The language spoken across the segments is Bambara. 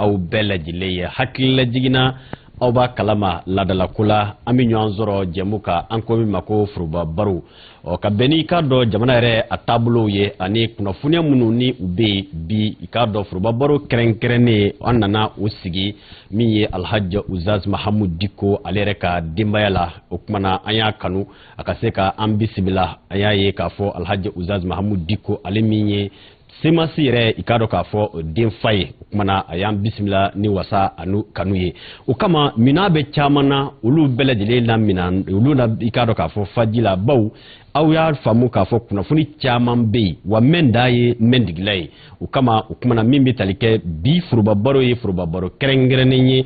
aw bɛɛ lajɛlen ye hakilila jiginna aw b'a kalama ladalako la an bɛ ɲɔgɔn sɔrɔ jɛmu kan an ko min ma ko foroba baro o ka bɛn n'i k'a dɔn jamana yɛrɛ a taabolow ye ani kunnafoniya minnu ni u bɛ yen bi i k'a dɔn foroba baro kɛrɛnkɛrɛnnen an nana o sigi min ye alhaji uzaz mahamu diko ale yɛrɛ ka denbaya la o kumana an y'a kanu a ka se ka an bisimila an y'a ye k'a fɔ alhaji uzaz mahamu diko ale min ye semasi yɛrɛ i k'a dɔn k'a fɔ denfa ye o kumana a y'an bisimila ni wasa ani kanu ye o kama minnaa bɛ caman na olu bɛɛ lajɛlen na min olu na i k'a dɔn k'a fɔ fa ji la bawo aw y'a faamu k'a fɔ kunnafoni caman bɛ yen wa mɛn dan ye mɛn tigi la ye o kama o kumana min bɛ tali kɛ bi forobabaro ye forobabaro kɛrɛnkɛrɛnnen ye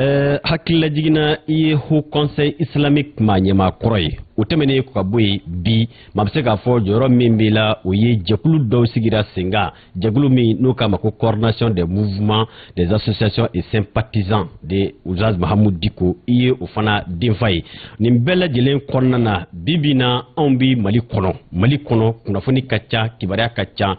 Eh, hakilila jiginna i ye haut conseil islamique maa ɲɛmaa kɔrɔ ye o tɛmɛnen ka bɔ yen bi maa bɛ se k'a fɔ jɔyɔrɔ min b'i la o ye jɛkulu dɔw sigira sen kan jɛkulu min n'u k'a ma ko coordination des mouvements des associations et sympathisants de uzaz mahamu diko i ye o fana denfa ye nin bɛɛ lajɛlen kɔnɔna na bi bi na anw bɛ mali kɔnɔ mali kɔnɔ kunnafoni ka ca kibaruya ka ca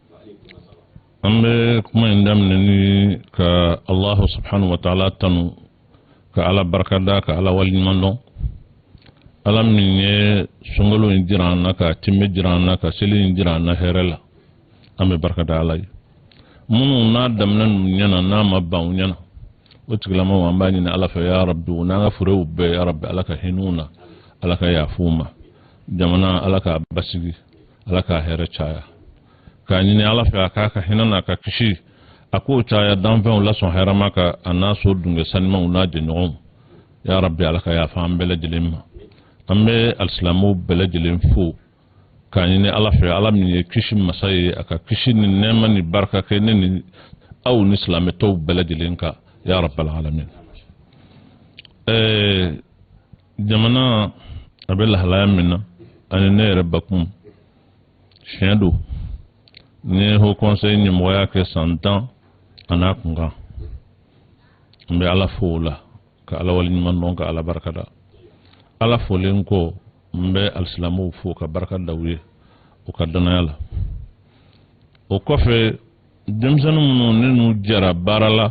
an bɛ kuma in daminɛ ni ka alahu subhanahu wa taala tanu ka ala barika da ka ala waliɲuman dɔn ala min ye sunkalo in jira an na k'a tinmɛ jira an na ka seli in jira an na hɛrɛ la an bɛ barika da ala ye minnu n'a daminɛna u ɲɛna n'a ma ban u ɲɛna o tigilamaw an b'a ɲini ala fɛ ya rabi u n'an ka furew bɛɛ ya rabi ala ka hinɛ u na ala ka yafa u ma jamana ala k'a basigi ala k'a hɛrɛ caya k'a ɲini ala fɛ a k'a ka hinɛ n'a ka kisi a k'o caya danfɛnw lasɔn hɛrɛma kan a n'a so dunke sanimaw n'a jɛɲɔgɔnw ya rabbi ala ka yafa an bɛɛ lajɛlen ma an bɛ alisilamɛw bɛɛ lajɛlen fo k'a ɲini ala fɛ ala min ye kisi masa ye a ka kisi ni nɛɛma ni barika kɛ ne ni aw ni silamɛ tɔw bɛɛ lajɛlen kan ya rabbal alamin ɛɛ jamana a bɛ lahalaya min na ani ne yɛrɛ bakun tiɲɛ don ne haut conseil ɲɛmɔgɔya kɛ san tan an'a kunkan n bɛ ala fo o la ka ala wale ɲuman dɔn ka ala barika da ala folen kɔ n bɛ alisilamuw fo ka barika da u ye u ka dannaya la o kɔfɛ denmisɛnw minnu ne n'u jɛra baara la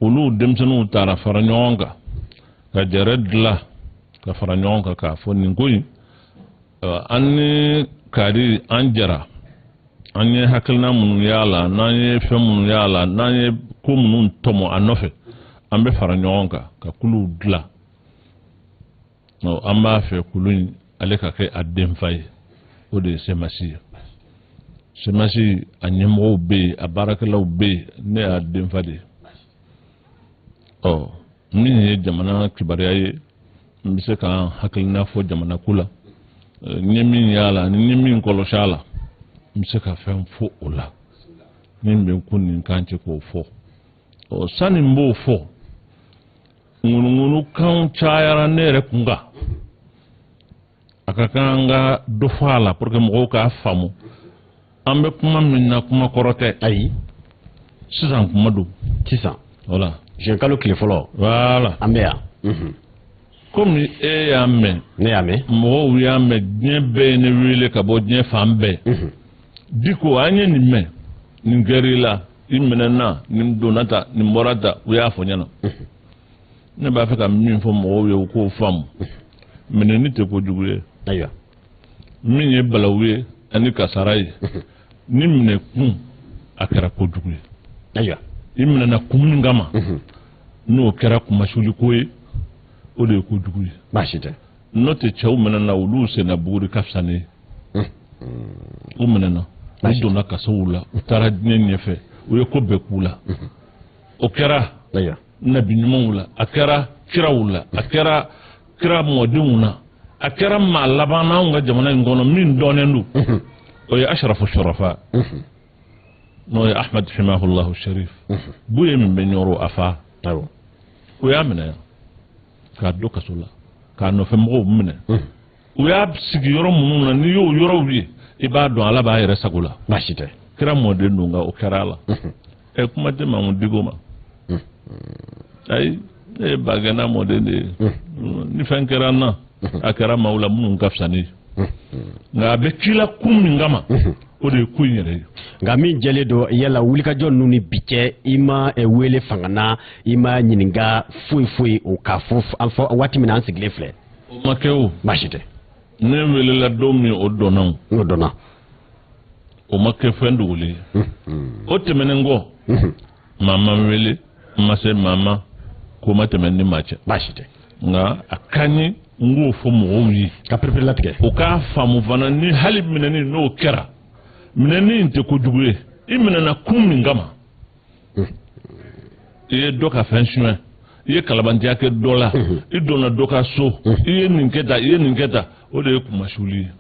olu denmisɛnw taara fara ɲɔgɔn kan ka jɛrɛ dilan ka fara ɲɔgɔn kan k'a fɔ nin ko in an ni kari an jɛra an ye hakilina minnu y'a la n'an ye fɛn minnu y'a la n'an ye ko minnu tɔmɔ a nɔfɛ an bɛ fara ɲɔgɔn kan ka kuluw dilan an b'a fɛ kulu in ale ka kɛ a denfa ye o de ye semasi ye semasi a ɲɛmɔgɔw bɛ yen a baarakɛlaw bɛ yen ne y'a denfa de ye ɔ min ye jamana kibaruya ye n bɛ se ka n hakilina fɔ jamana ko la n ye min y'a la ani n ye min kɔlɔsi a la n bɛ se ka fɛn fɔ o la min bɛ n kun ni n kan cɛ k'o fɔ ɔ sani n b'o fɔ ŋunuŋunukanw cayara ne yɛrɛ kun kan a ka kan an ka dɔ fɔ a la pour que mɔgɔw k'a faamu an bɛ kuma min na kuma kɔrɔ tɛ ayi sisan kuma don sisan voilà juin kalo tile fɔlɔ voilà an bɛ yan mhm. komi e y'a mɛn ne y'a mɛn mɔgɔw y'a mɛn diɲɛ bɛɛ ye ne wele ka bɔ diɲɛ fan bɛɛ mhm. diko an ye nin mɛn nin kɛra i la i minɛna nin donna tan nin bɔra tan u y'a fɔ ɲɛna ne b'a fɛ ka min fɔ mɔgɔw ye u k'o faamu minɛni tɛ ko jugu ye ayiwa min ye balawu ye ani kasara ye n'i minɛ kun a kɛra ko jugu ye ayiwa i minɛna kun min kama n'o kɛra kunmasuuli ko ye o de ye ko jugu ye baasi tɛ n'o tɛ cɛw minɛna olu senna buguri ka fisa ne ye u minɛna u donna kasow la u taara diɲɛ ɲɛfɛ u ye ko bɛɛ k'u la o kɛra nabi ɲumanw la a kɛra kiraw la a kɛra kira mɔdenw na a kɛra maa laban n'anw ka jamana in kɔnɔ min dɔnnen don o ye ashrafu shurafa n'o ye ahmad himahullahu sharif buye min bɛ ɲɔrɔ a fa u y'a minɛ k'a don kaso la k'a nɔfɛ mɔgɔw minɛ u y'a sigi yɔrɔ minnu na n'i y'o yɔrɔw ye i b'a dɔn ala b'a yɛrɛ sago la baasi tɛ kira mɔden don nka o kɛra a la ɛ kuma tɛ mahmud diko ma ayi ne ye bagɛnna mɔden de ye ni fɛn kɛra n na a kɛra maaw la minnu ka fisa ni nka a bɛ k'i la kun min kama o de ye ko in yɛrɛ ye nka min jɛlen don yala wulikajɔ ninnu ni bi cɛ i ma eh, wele fanga na i ma ɲininka foyi foyi o k'a fɔ waati min na an sigilen filɛ o ma kɛ o baasi tɛ ne welela don min o dɔnna o dɔnna o ma kɛ fɛn dogolen ye o tɛmɛnen kɔ maa ma n wele n ma se maa ma ko ma tɛmɛ n ni maa cɛ baasi tɛ nka a ka ɲi n k'o fɔ mɔgɔw ye k'a pereperelatigɛ u k'a faamu fana ni hali minɛni n'o kɛra minɛni in tɛ kojugu ye i minɛna kun min kama hmm. i ye dɔ ka fɛn suɲɛ i ye kalabantiya kɛ dɔ la hmm. i donna dɔ ka so hmm. i ye nin kɛ tan i ye nin kɛ tan o de ye kunmasuuli ye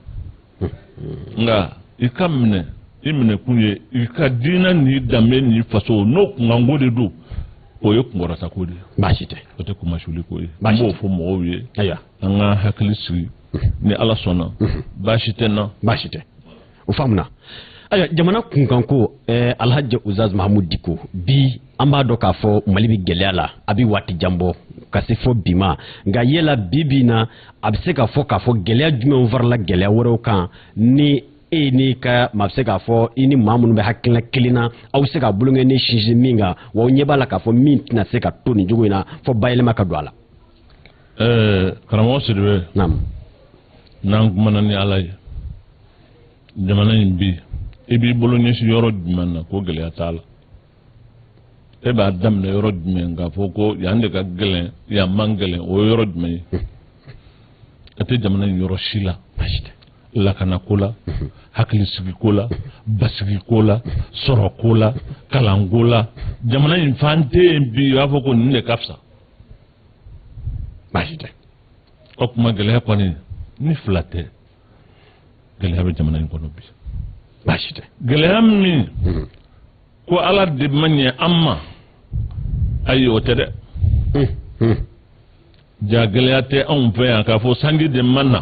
nka i ka minɛ i minɛkun ye i ka diinɛ n'i danbe n'i faso n'o kunkanko de don o ye kunkɔrɔtako de ye baasi tɛ o tɛ kumasuliko ye an b'o fɔ mɔgɔw ye ayiwa an ka hakili sigi ni ala sɔnna baasi tɛ n na baasi tɛ o faamuna ayiwa jamana kunkanko eh, alhaji uzaz mahamud diko bi an b'a dɔn k'a fɔ mali bɛ gɛlɛya la a bɛ waati jan bɔ ka se fɔ bi ma nka yala bi bi na a bɛ se k'a fɔ k'a fɔ gɛlɛya jumɛnw farala gɛlɛya wɛrɛw kan ni e n'i ka maa bɛ se k'a fɔ i ni maa minnu bɛ hakilina kelen na aw bɛ se k'a bolonkɔni sinsin min kan wa aw ɲɛ b'a la k'a fɔ min tɛna se ka to nin cogo in na fɔ bayɛlɛma ka don a la. ɛɛ karamɔgɔ sidibe. naamu. n'an kumana ni ala ye jamana in bi i b'i bolo ɲɛsin yɔrɔ jumɛn na ko gɛlɛya t'a la. e b'a daminɛ yɔrɔ jumɛn k'a fɔ ko yan de ka gɛlɛn yan man gɛlɛn o ye yɔrɔ jumɛn ye a tɛ jamana in yɔrɔ si la lakanako la hakilisigiko la basigiko la sɔrɔko la kalanko la jamana in fan tɛ yen bi i b'a fɔ ko nin de ka fisa baasi tɛ o kuma gɛlɛya kɔni ni fila tɛ gɛlɛya bɛ jamana in kɔnɔ bi baasi tɛ gɛlɛya min ko ala de ma ɲɛ an ma ayi o tɛ dɛ ja gɛlɛya tɛ anw fɛ yan k'a fɔ sanji de ma na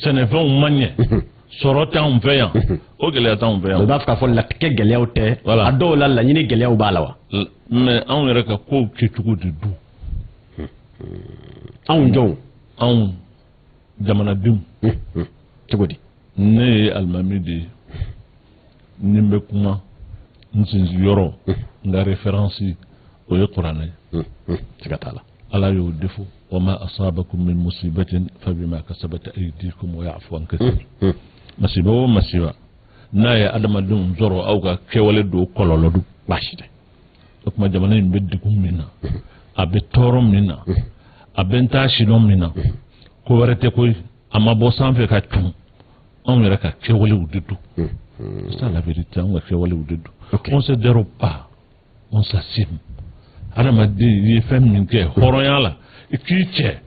sɛnɛfɛnw ma ɲɛ sɔrɔ t'anw fɛ yan o gɛlɛya t'anw fɛ yan. o b'a fɛ k'a fɔ latigɛ gɛlɛyaw tɛ. a dɔw la laɲini gɛlɛyaw b'a la wa. mais anw yɛrɛ ka kow kɛcogo de don. anw jɔnw. anw jamanadenw. cogo di. ne ye alimami de ye ni n bɛ kuma n sinsin yɔrɔ n ka référence o ye kuranɛ ye siga t'a la ala y'o de fɔ wa ma asabakum min musibatin fabima kasabat aydikum wa yafu an kasir masiba o masiba n'a ye adamadenw sɔrɔ aw ka kɛwale don kɔlɔlɔ don baasi tɛ o kuma jamana in bɛ degun min na a bɛ tɔɔrɔ min na a bɛ n taa sidɔn min na ko wɛrɛ tɛ koyi a ma bɔ sanfɛ ka cun anw yɛrɛ ka kɛwalew de don hmm, hmm. c'est ça la vérité anw ka kɛwalew de don on se dérobe pas on s'assume adamaden i ye fɛn min kɛ hɔrɔnya la i k'i cɛ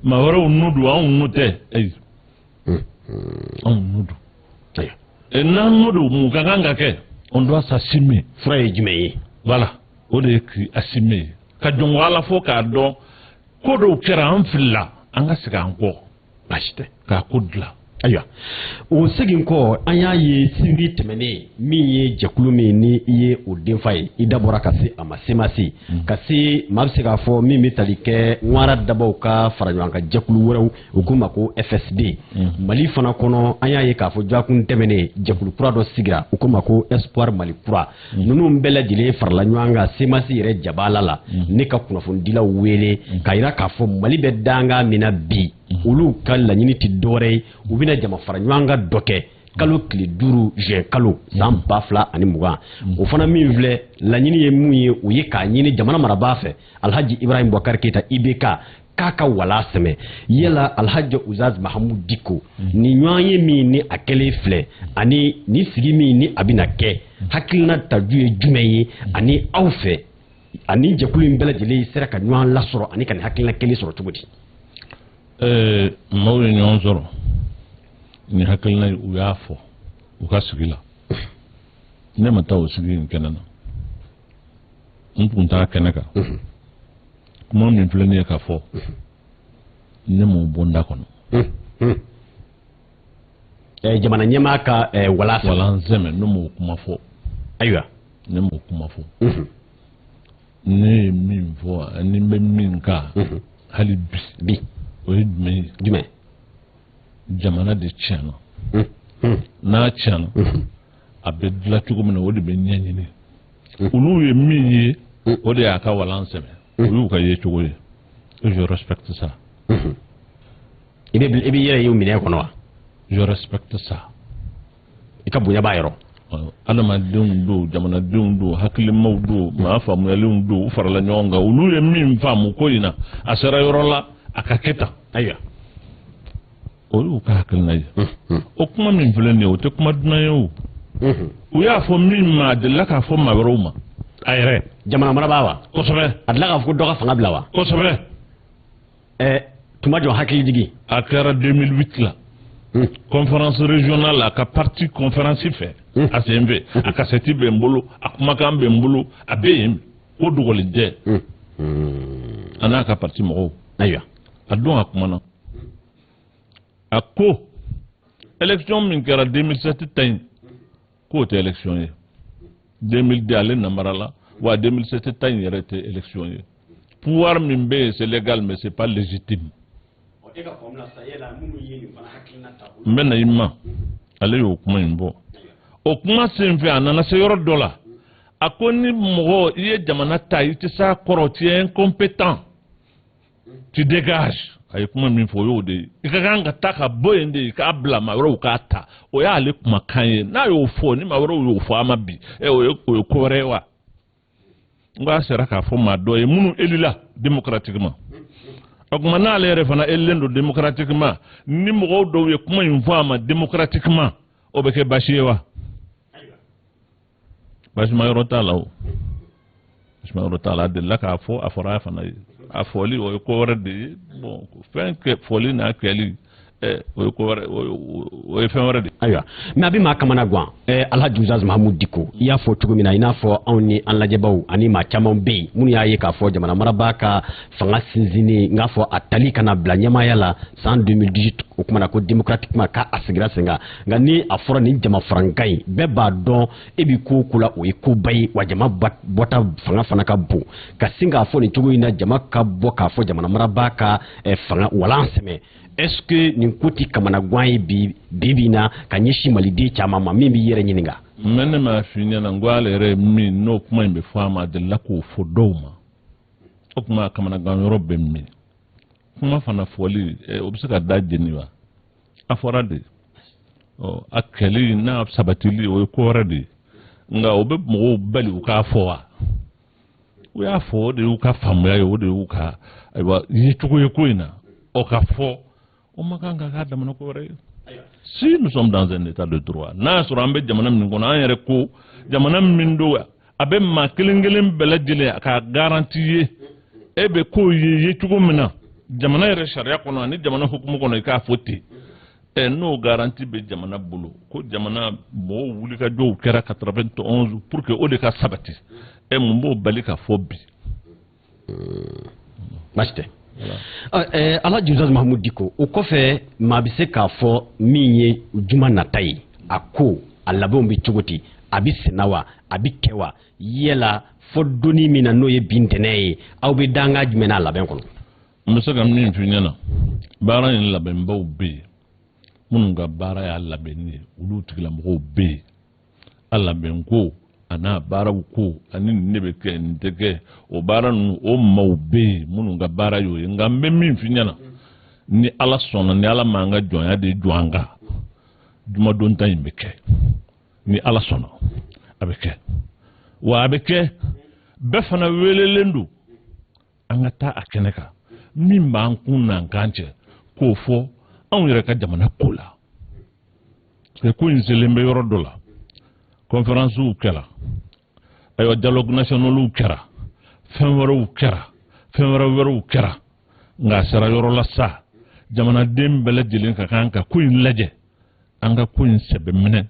maa wɛrɛw nɔ don anw nɔ tɛ ayi hmm, anw nɔ don e, n'an nɔ don mun ka kan ka kɛ on doit s'assumer fura ye jumɛn ye voilà o de ye k'i assumer ka jɔnko ala fo k'a dɔn ko dɔw kɛra an filila an ka segin an kɔ baasi tɛ k'a ko dilan ayiwa o segin kɔ an y'a ye sibiri tɛmɛnen min ye jɛkulu min ni i ye o denfa ye i da bɔra ka se a ma semasi mm. ka se maa bɛ se k'a fɔ min bɛ tali kɛ ŋwara dabaw ka fara ɲɔgɔn kan jɛkulu wɛrɛw u k'u ma ko fsd mm. mali fana kɔnɔ an y'a ye k'a fɔ dɔgɔkun tɛmɛnen jɛkulu kura dɔ sigira u k'u ma ko espoir mali kura ninnu bɛɛ lajɛlen farala ɲɔgɔn kan semasi yɛrɛ jabaala la ni ka kunnafonidilaw wele k'a jira k'a fɔ mali bɛ dankan min na bi olu ka laɲini tɛ dɔwɛrɛ ye u bɛna jama fara ɲɔgɔn kan dɔ kɛ kalo tile duuru juin kalo san ba fila ani mugan o fana min filɛ laɲini ye mun ye o ye k'a ɲini jamana marabaa fɛ alhaji ibrahim bubakar keyita ibk k'a ka walan sɛmɛ yala alhaji ustaz mahamu diko mm. nin ɲɔgɔnye min ni a kɛlen filɛ ani nin sigi min ni a bɛna kɛ mm. hakilina taju ye jumɛn ye mm. ani aw fɛ ani jɛkulu in bɛɛ lajɛlen sera ka ɲɔgɔn lasɔrɔ ani ka nin hakilina kelen sɔrɔ cogo di ɛɛ maaw ye ɲɔgɔn sɔrɔ ni hakilina ye u y'a fɔ u ka sigi la ne ma taa o sigi in kɛnɛ na n tun t'a kɛnɛ kan kuma min filɛ nin ye ka fɔ ne m'o bɔ n da kɔnɔ jamana ɲɛmaa ka wala walan sɛmɛ ne m'o kuma fɔ ayiwa ne m'o kuma fɔ ne ye min fɔ ani n bɛ min kan hali bi bi o ye jumɛn ye jumɛn jamana de tiɲɛna n'a tiɲɛna a bɛ dilan cogo min na o de bɛ ɲɛɲini olu ye min ye o de y'a ka walan sɛmɛ o y'u ka yecogo ye je respecte ça i bɛ i bɛ yɛrɛ y'u minɛ kɔnɔ wa je respecte ça i ka bonya b'a yɔrɔ adamadenw don jamanadenw don hakilimaw don maa faamuyalenw don u farala ɲɔgɔn kan olu ye min faamu ko in na a sera yɔrɔ la a ka kɛ tan ayiwa o y'u ka hakilina ye o kuma min filɛ nin ye o tɛ kuma dunan ye o u y'a fɔ min ma a delila k'a fɔ maa wɛrɛw ma a yɛrɛ jamana marabaa wa kosɛbɛ a delila k'a fɔ ko dɔ ka fanga bila wa kosɛbɛ ɛɛ tuma jɔn hakili jigin a kɛra 2008 la conférence régionale la a ka parti conférence fɛ a sen fɛ a kasɛti bɛ n bolo a kumakan bɛ n bolo a bɛ yen ko dogolen tɛ a n'a ka parti mɔgɔw ayiwa a don a kumana a ko élection min kɛra 2007 ta in k'o tɛ élection ye 2002 ale namarala wa 2007 ta in yɛrɛ tɛ élection ye pouvoir min bɛ yen c'est légal mais c'est pas légitime n bɛ na i ma ale y'o kuma in bɔ o kuma senfɛ a nana se yɔrɔ dɔ la a ko ni mɔgɔ i ye jamana ta i tɛ s'a kɔrɔ tu es incompétent tu dégages a ye kuma min fɔ o y'o de ye i ka kan ka taa ka bɔ yen de k'a bila maa wɛrɛw k'a ta o y'ale kumakan ye n'a y'o fɔ ni maa wɛrɛw y'o fɔ a ma bi ɛ o ye o ye ko wɛrɛ ye wa n k'a sera k'a fɔ maa dɔ ye minnu élila démocratiquement o tuma n'ale yɛrɛ fana élilen don démocratiquement ni mɔgɔw dɔw ye kuma in fɔ a ma démocratiquement o bɛ kɛ baasi ye wa baasima yɔrɔ t'a la o baasima yɔrɔ t'a la a delila k'a fɔ a fɔra a fana ye a fɔli o ye ko wɛrɛ de ye bon fɛn kɛ fɔli n'a kɛli eh, o ye ko wɛrɛ o ye fɛn wɛrɛ de ayiwa mais a bɛ maa kamana gan eh, alhaji uzaz mahamud diko i y'a fɔ cogo min na i n'a fɔ anw ni an lajɛbaw ani maa caman bɛ yen minnu y'a ye k'a fɔ jamana marabaa ka fanga sinsinni n k'a fɔ a tali ka n'a bila ɲɛmaaya la san 2018 o kumana ko démocratiquement k'a sigira sen kan nka ni a fɔra nin jama farankan in bɛɛ b'a dɔn e bɛ ko o ko la o ye koba ye wa jama bɔta fanga fana ka bon ka sin k'a fɔ nin cogo in na jama ka bɔ k'a fɔ jamana marabaa ka eh, fanga walan sɛmɛ est-ce que nin ko tɛ kamana gan ye bi bi bi na ka ɲɛsin maliden caman ma min b'i yɛrɛ ɲininka. mais ne m'a f'i ɲɛna n ko ale yɛrɛ min n'o kuma in bɛ fɔ a ma a delila k'o fɔ dɔw ma o tuma kamanagan yɔrɔ bɛ min kuma fana fɔli eh, o bɛ se ka da jeni wa. a fɔra de ɔ a kɛli n'a sabatili o ye ko wɛrɛ de ye nka o bɛ mɔgɔw bali u k'a fɔ wa u y'a fɔ o de y'u ka faamuya ye o de y'u ka ayiwa yecogo ye ko in na o ka fɔ o ma kan ka k'a damana ko wɛrɛ ye si nous sommes dans un état de droit n'a y'a sɔrɔ an bɛ jamana min kɔnɔ an yɛrɛ ko jamana min don wa a bɛ maa kelen kelen bɛɛ lajɛlen a ka garanti ye e bɛ k'o ye ye cogo min na jamana yɛrɛ sariya kɔnɔ ani jamana hukumu kɔnɔ i k'a fɔ ten ɛ n'o garanti bɛ jamana bolo ko jamana mɔgɔw wulikajɔw kɛra 91 pour que o de ka sabati ɛ mun b'o bali ka fɔ bi baasi tɛ alhaji uzaz mahamud diko o kɔfɛ maa bɛ se k'a fɔ min ye juma nata ye a ko a labɛnw bɛ cogo di a bɛ senna wa a bɛ kɛ wa yala fɔ don min na n'o ye bi ntɛnɛn ye aw bɛ danga jumɛn n'a labɛn kɔnɔ n bɛ se ka min f'i ɲɛna baara in labɛnbaw bɛ yen minnu ka baara y'a labɛnni ye olu tigilamɔgɔw bɛ yen a labɛn ko a n'a baaraw ko ani nin de bɛ kɛ nin tɛ kɛ o baara ninnu o maaw bɛ yen minnu ka baara y'o ye nka n bɛ min f'i ɲɛna ni ala sɔnna ni ala m'an ka jɔnya de jɔ an kan jumadon ta in bɛ kɛ ni ala sɔnna a bɛ kɛ wa a bɛ kɛ bɛɛ fana welelen don an ka taa a kɛnɛ kan min b'an kun n'an kan cɛ k'o fɔ anw yɛrɛ ka jamana ko la parce ko in selen bɛ yɔrɔ dɔ la conférencew kɛra ayiwa dialogue nationalw kɛra fɛn wɛrɛw kɛra fɛn wɛrɛ wɛrɛw kɛra nka a sera yɔrɔ la sa jamanaden bɛɛ lajɛlen ka kan ka ko in lajɛ an ka ko in sɛbɛ minɛ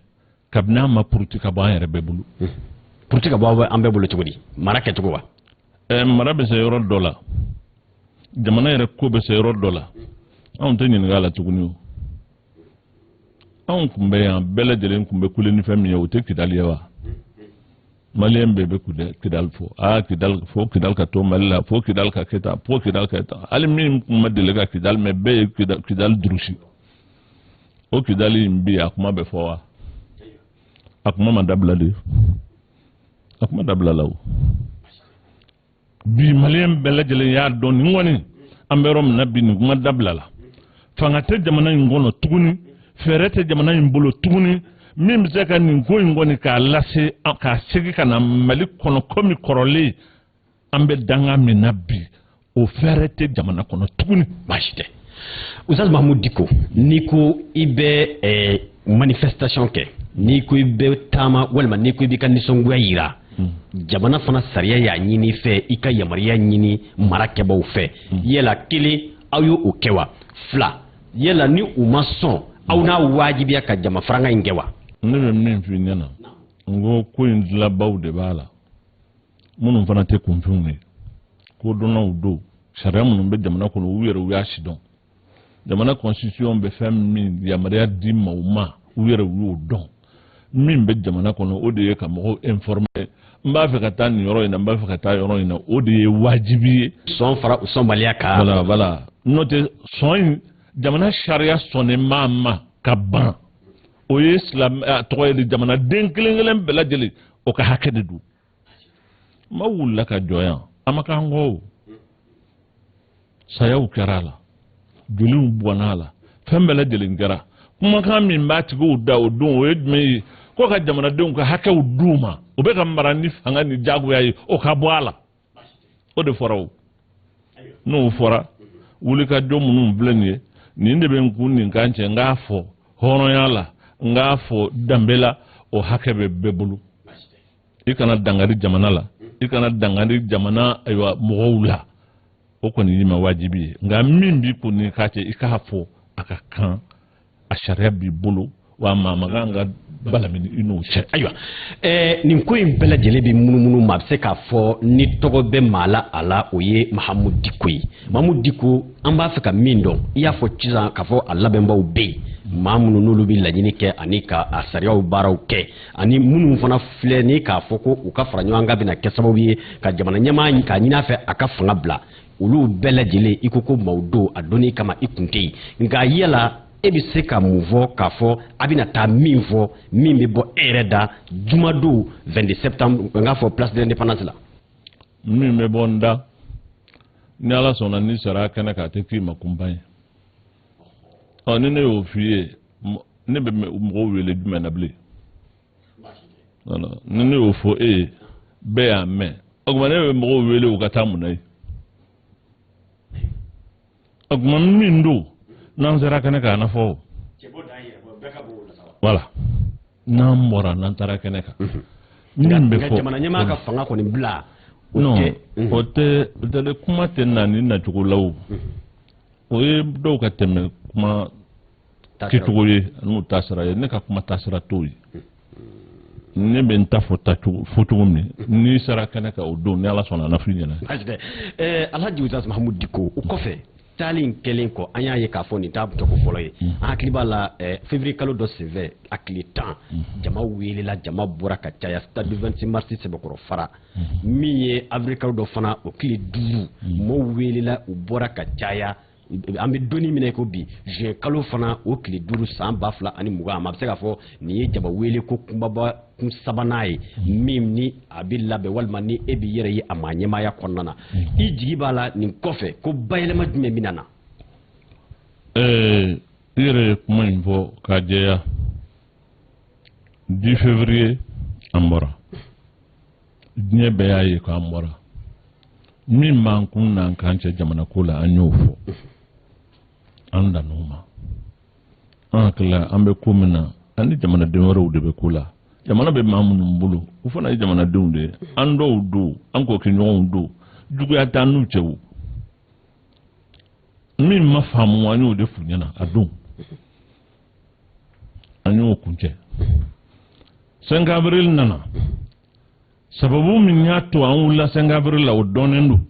kabini a ma puruti ka bɔ an yɛrɛ bɛɛ bolo puruti ka bɔ an bɛɛ bolo cogo di mara kɛcogo wa eh, mara bɛ se yɔrɔ dɔ la jamana yɛrɛ ko bɛ se yɔrɔ dɔ la anw tɛ ɲininka a la tuguni o anw kun bɛ yan bɛɛ lajɛlen kun bɛ kule ni fɛn min ye o tɛ kidali ye wa maliyɛn bɛɛ bɛ kidali fɔ aa kidali fo kidali ka to mali la fo kidali ka kɛ tan fo kidali ka kɛ tan hali min kun ma deli ka kidali mɛ bɛɛ ye kidali durusi o kidali in bi a kuma bɛ fɔ wa a kuma ma dabila de a kuma dabilala o bi maliyɛn bɛɛ lajɛlen y'a dɔn nin kɔni an bɛ yɔrɔ min na bi nin kuma dabilala fanga tɛ jamana in kɔnɔ tuguni fɛɛrɛ tɛ jamana in bolo tuguni min bɛ se ka nin ko in kɔni k'a lase k'a segin ka na mali kɔnɔ komi kɔrɔlen an bɛ danga min na bi o fɛɛrɛ tɛ jamana kɔnɔ tuguni baasi tɛ ustaz mahamudu diko n'i ko i bɛ eh, manifestation kɛ n'i ko i bɛ taama walima n'i ko i b'i ka nisɔngoya yira hmm. jamana fana sariya y'a ɲin'i fɛ i ka yamaruya ɲini marakɛbaaw fɛ hmm. yala kelen aw ye o kɛ wa fila yala ni u ma sɔn aw n'a wajibiya ka jama faranga in kɛ wa ne bɛ min f'i ɲɛna n ko ko in dilabaaw de b'a la minnu fana tɛ kunfinw ye kodɔnnaw don sariya minnu bɛ jamana kɔnɔ u yɛrɛ u y'a sidɔn jamana constitution bɛ fɛn min yamaruya di maaw ma u yɛrɛ u y'o dɔn min bɛ jamana kɔnɔ o de ye ka mɔgɔw informer n b'a fɛ ka taa nin yɔrɔ in na n b'a fɛ ka taa yɔrɔ in na o de ye wajibi ye sɔn fara sɔnbaliya kan voilà voilà n'o tɛ sɔn in jamana sariya sɔnnen maa ma ka ban o ye silamɛ tɔgɔ ye jamanaden kelen kelen bɛɛ lajɛlen o ka hakɛ de don maa wulila ka jɔ yan a ma k'an kɔ o sayaw kɛra a la joliw bɔnna a la fɛn bɛɛ lajɛlen kɛra kumakan min b'a tigiw da o don o ye jumɛn ye ko ka jamanadenw ka hakɛw d'u ma o bɛ ka mara ni fanga ni jagoya ye o ka bɔ a la o de fɔra o n'o fɔra wulikajɔ minnu filɛ nin ye nin de bɛ n kun ni n kan cɛ n k'a fɔ hɔrɔnya la n k'a fɔ danbe la o hakɛ bɛ bɛɛ bolo i kana dangari jamana la i kana dangari jamana ayiwa mɔgɔw la o kɔni y'i ma wajibi ye nka min b'i kun n'i kan cɛ i k'a fɔ a ka kan a sariya b'i bolo wa maa man kan ka balamini i n'o cɛ ayiwa ɛɛ nin ko in bɛɛ lajɛlen bɛ munumunu ma a bɛ se k'a fɔ ni tɔgɔ bɛ maa la a la o ye mahamudu diko ye mahamudu diko an b'a fɛ ka min dɔn i y'a fɔ sisan k'a fɔ a labɛnbaw bɛ yen maa minnu n'olu bɛ laɲini kɛ ani ka a sariyaw baaraw kɛ ani minnu fana filɛ nin k'a fɔ ko u ka fara ɲɔgɔn kan bɛna kɛ sababu ye ka jamana ɲɛmaa k'a ɲini a fɛ a ka fanga bila olu bɛɛ lajɛlen i ko ko maaw don a doni kama i kun tɛ yen nka yala e bɛ se ka mun fɔ k'a fɔ a bɛna taa min fɔ min bɛ bɔ e yɛrɛ da jumadon 22 septembre n k'a fɔ place de l'indépendance la. min bɛ bɔ n da ni ala sɔnna n'i sera kɛnɛ kan a tɛ k'i ma kunpa ye ɔ ni ne y'o f'i ye ne bɛ mɔgɔw wele jumɛn na bilen. ni ne y'o fɔ e ye bɛɛ y'a mɛn o tuma ne bɛ mɔgɔw wele u ka taa mun na yen o tuma min don n'an sera kɛnɛ kan a na fɔ voilà n'an bɔra n'an taara kɛnɛ kan mhm. min bɛ fɔ jamana ɲɛmaa ka fanga kɔni bila non mhm. o tɛ o tɛ kuma tɛ na nin nacogo la o mhm. o ye dɔw ka tɛmɛ kuma kɛcogo ye n'u taasira ye ne ka kuma taasira t'o ye ne bɛ n ta fɔ fɔcogo min n'i sera kɛnɛ kan o don ni ala sɔnna a na f'i ɲɛna. alhaji ustaz mahamudu diko o kɔfɛ taali in kɛlen kɔ an y'a ye k'a fɔ nin t'a tako fɔlɔ ye mm. an hakili b'a la février kalo dɔ senfɛ a tile tan mm. jama welela jama bɔra ka caya stade 26 mars sɛbɛkɔrɔ fara mm. min ye avril kalo dɔ fana o tile duuru mɔɔw welela u bɔra ka caya an bɛ don min na i ko bi juin kalo fana o tile duuru san ba fila ani mugan ma a bɛ se k'a fɔ nin ye jama wele ko kunbaba kun sabanan ye min ni a bɛ labɛn walima ni e b'i yɛrɛ ye a maa ɲɛmaaya kɔnɔna na mm-hmm. i jigi b'a la nin kɔfɛ ko bayɛlɛma jumɛn bɛ na. i yɛrɛ ye kuma in fɔ k'a jɛya 10 février an bɔra. diɲɛ bɛɛ y'a ye k'an bɔra min b'an kun n'an kan cɛ jamana ko la an y'o fɔ an dann'o ma an hakilila an bɛ ko min na an ni jamanaden wɛrɛw de bɛ ko la jamana bɛ maa minnu bolo u fana ye jamanadenw de ye an dɔw don an kokɛɲɔgɔnw don juguya t'an n'u cɛ o min ma faamu an y'o de f'u ɲɛna a don an y'o kuncɛ cinq avril nana sababu min y'a to an wulila cinq avril la o dɔnnen don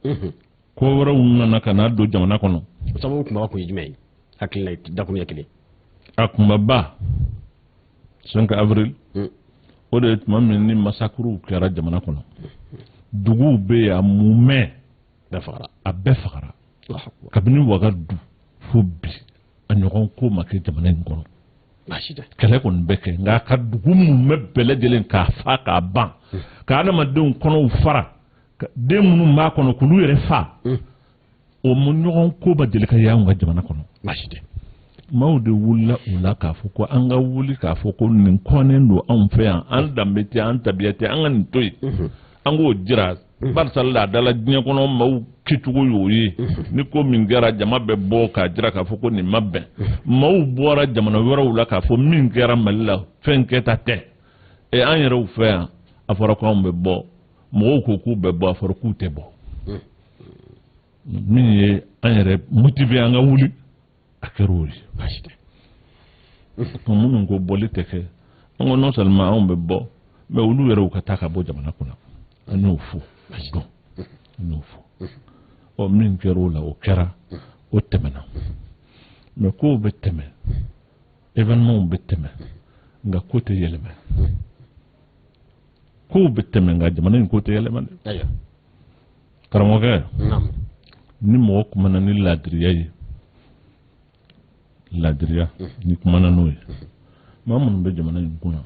mhm. ko wɛrɛw nana ka na don jamana kɔnɔ o sababu kunba kun ye jumɛn ye hakilila dakuruɲɛ kelen a kunbaba cinq avril mm. o de ye tuma min ni massacrew kɛra jamana kɔnɔ duguw bɛ yen a mumɛ a bɛɛ fagara kabini wagadu fo bi a ɲɔgɔn ko ma kɛ jamana in kɔnɔ kɛlɛ kɔni bɛ kɛ nka ka dugu mumɛ bɛɛ lajɛlen k'a fa k'a ban hmm. ka adamadenw kɔnɔw fara den minnu b'a kɔnɔ k'olu yɛrɛ fa hmm. o mu ɲɔgɔn ko ma deli ka ye anw ka jamana kɔnɔ maaw de wulila o la k'a fɔ ko an ka wuli k'a fɔ ko nin kɔnnen don anw fɛ yan an danbe tɛ an tabiya tɛ an ka nin to yen hmm. an k'o jira mhm. barisa laadala diɲɛ kɔnɔ maaw kɛcogo y'o ye mhm. ni ko min kɛra jama bɛ bɔ k'a jira k'a fɔ ko nin ma bɛn mhm. maaw bɔra jamana wɛrɛw la k'a fɔ min kɛra mali la fɛn kɛta tɛ ɛ an yɛrɛw fɛ yan a fɔra ko anw bɛ bɔ mɔgɔw ko k'u bɛ bɔ a fɔra k'u tɛ bɔ min ye an yɛrɛ motiver an ka wuli a kɛra o ye baasi tɛ minnu ko bɔli tɛ kɛ an ko non seulement anw bɛ bɔ mais olu yɛrɛ u ka taa ka bɔ jamana kunna an y'o fɔ a don an y'o fɔ ɔ min kɛra o la o kɛra o tɛmɛna mais kow bɛ tɛmɛ événementw bɛ tɛmɛ nka ko tɛ yɛlɛma kow bɛ tɛmɛ nka jamana in ko tɛ yɛlɛma dɛ karamɔgɔkɛ ni mɔgɔ kumana ni laadiriya ye laadiriya ni kumana n'o ye maa minnu bɛ jamana in kunna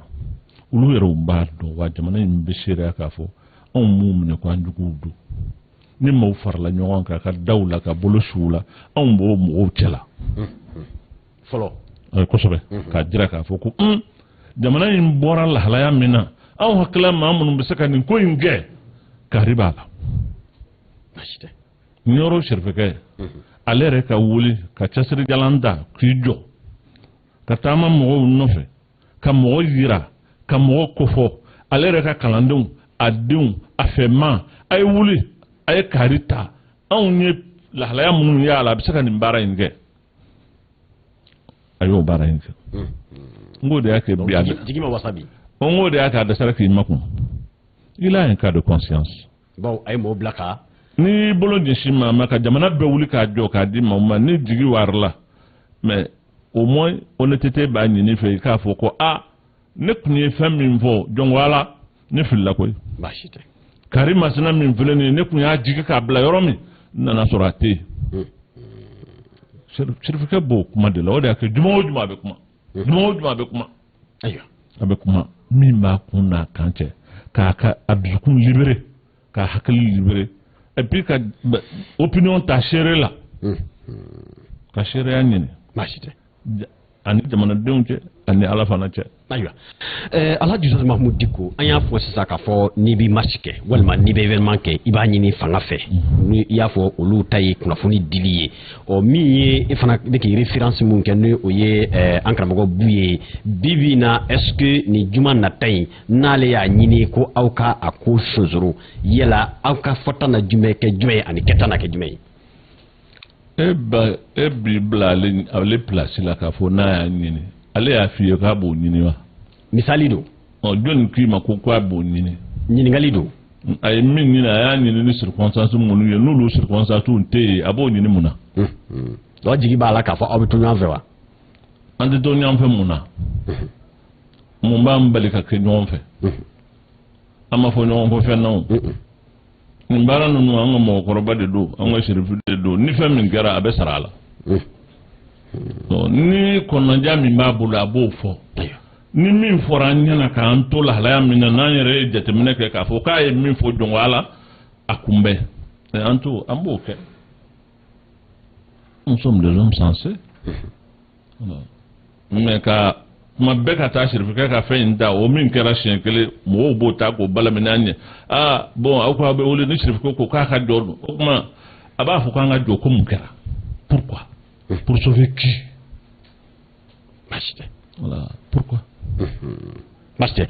olu yɛrɛw b'a dɔn wa jamana in bɛ seereya k'a fɔ anw m'u minɛ ko an juguw don ni maaw farala ɲɔgɔn kan ka da u la ka bolo su u la anw b'o mɔgɔw cɛla fɔlɔ kosɛbɛ k'a jira k'a fɔ ko jamana in bɔra lahalaya min na anw hakili la maa minnu bɛ se ka nin ko in kɛ kari b'a la ɲɔrɔ serifukɛ ale yɛrɛ ka wuli ka cɛsirijalan da k'i jɔ ka taama mɔgɔw nɔfɛ ka mɔgɔ yira ka mɔgɔ kofɔ ale yɛrɛ ka kalandenw a denw a fɛma a ye wuli a ye kari ta anw ye lahalaya minnu y'a la a bɛ se ka nin baara in kɛ a y'o baara in kɛ n k'o de y'a kɛ bi a jigi ma wasa bi n k'o de y'a kɛ a dɛsɛra k'i makun il a un cas de conscience bawo a ye mɔgɔ bila ka n'i bolo ɲɛsin maa ma ka jamana bɛɛ wuli k'a jɔ k'a di maa ma n'i jigi waarola mais au moins honnêteté b'a ɲini i fɛ i k'a fɔ ko a ah, ne tun ye fɛn min fɔ jɔnko ala ne filila koyi baasi tɛ kari masina min filɛ nin ye ne tun y'a jigi k'a bila yɔrɔ min n nana sɔrɔ a tɛ yen hmm. sirifikɛ b'o kuma de la o de y'a kɛ juma o juma a bɛ kuma hmm. juma o juma a bɛ kuma ayiwa a bɛ kuma min b'a kun n'a kan cɛ k'a ka a dusukun libéré k'a hakili libéré et puis ka opinion ta seere la hmm. ka seereya ɲini baasi tɛ ani jamanadenw cɛ ani ala fana cɛ ayiwa eh, alaji usitazi mahamudu diko an y'a fɔ sisan k'a fɔ n'i bɛ marche kɛ walima n'i bɛ événement kɛ i b'a ɲini fanga fɛ mhm. ni i y'a fɔ olu ta ye kunnafoni dili ye ɔ min ye e fana bɛ k'i référence min kɛ ni o ye eh, an karamɔgɔ buye bi bi na est ce que nin juma nata in n'ale y'a ɲini ko aw ka a ko sonsoro yala aw ka fɔta na jumɛn kɛ jumɛn ye ani kɛta na kɛ jumɛn ye e ba e b'i bila ale ale pilasi la k'a fɔ n'a y'a ɲini ale y'a f'i ye k'a b'o ɲini wa. misali don. ɔ jɔnni k'i ma ko k'a b'o ɲini. ɲininkali don. a ye min ɲini a y'a ɲini ni circonstance minnu ye n'olu circonstances tɛ yen a b'o ɲini mun na. o jigi b'a la k'a fɔ aw bɛ to ɲɔgɔn fɛ wa. an tɛ to ɲɔgɔn fɛ mun na. mun b'an bali ka kɛ ɲɔgɔn fɛ. an ma fɔ ɲɔgɔn kɔ fɛn na o. nin baara ninnu an ka mɔgɔkɔrɔba de don an ka sirifu de don ni fɛn min kɛra a bɛ sara a la ni kɔnɔnja min b'a bolo a b'o fɔ ni min fɔra an ɲɛna k'an to lahalaya min na n'an yɛrɛ ye jateminɛ kɛ k'a fɔ k'a ye min fɔ jɔnko ala a kunbɛn an to an b'o kɛ nous sommes des hommes sensés mais ka kuma bɛɛ ka taa sirifikɛ ka fɛn in ta o min kɛra siɲɛ kelen mɔgɔw b'o ta k'o balaminɛ an ɲɛ ah bon aw ko aw bɛ wuli ni sirifikɛ ko k'a ka jɔ dun o tuma a b'a fɔ k'an ka jɔ ko mun kɛra pourquoi pour sauver qui baasi tɛ voilà pourquoi Baasi tɛ